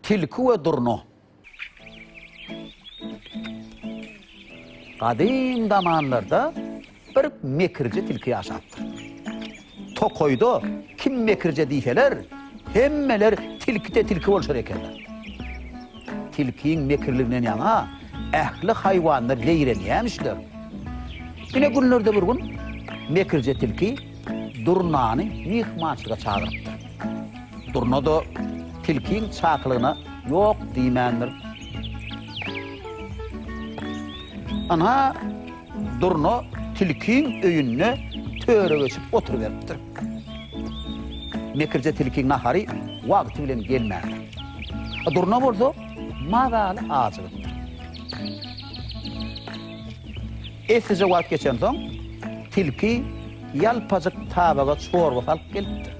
Tilki we durna. Gadym zamanlarda bir mekirje tilki ýaşapdyr. Tokaýda kim mekirje diýseler, hemmeler tilkide tilki bolşar ekenler. Tilkiň mekirliginden ýaňa ähli haýwanlar zeýrenýämişler. Ine günlerde bir gün mekirje tilki durnany myhmançylyga çagyrypdyr. Durna-da tilkiň çakylygyna ýok diýmändir. Ynha, Durna tilkiň öýünde töre geçip oturyberipdir. Mekirje tilkiň nahary wagty bilen gelmändir. Durna bolsa mazaly ajygypdyr. Eslice wagt geçensoň, tilki. Ýalpajyk tabaga çorba salyp gelipdir.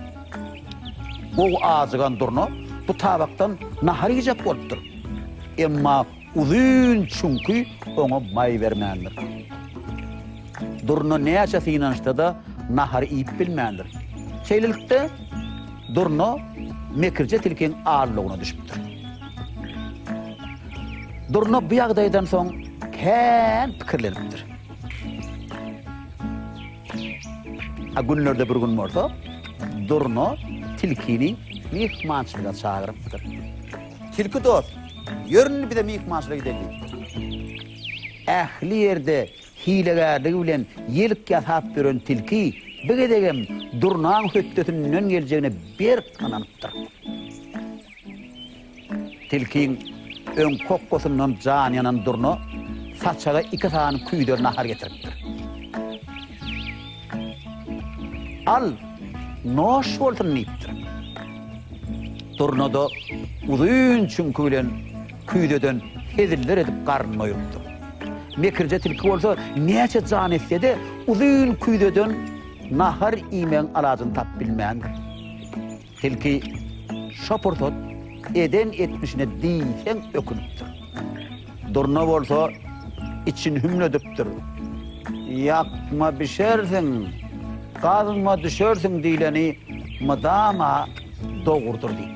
Gowy ajygan durna bu tabakdan nahar iýjek bolupdyr. Emma uzyn çüňki oňa maý bermändir. Durna näçe synanyşsa-da nahary iýip bilmändir. Şeýlelikde, durna mekirje tilkiň aldawyna düşüpdir. Durna bu ýagdaýdan soň kän pikirlenipdir. A günlerde bir gün bolsa Durna tilkini myhmançylyga çagyrypdyr. Tilki dost, ýör indi bize myhmançylyga gideýlik. Ähli ýerde hilegärligi bilen ýelk ýasap ýören tilki bu gezegem Durnaň hötdesinden geljegine berk ynanypdyr. Tilkiň öň kokosyndan jany ýanan durna saçaga iki sany küýder nahar getiripdir. Al, noş bolsun diýipdir. Durna-da uzyn çüňki bilen küýzeden heziller edip garnyny doýrupdyr. Mekirje tilki bolsa näçe jan etse-de, uzyn küýzeden nahar iýmegiň alajyny tapyp bilmändir. Tilki şo pursat eden etmişine diýseň ökünipdir. Durna bolsa içini hümledipdir. Ýakma bişersiň, gazma düşersiň diýleni mydama dogrudyr diýipdir.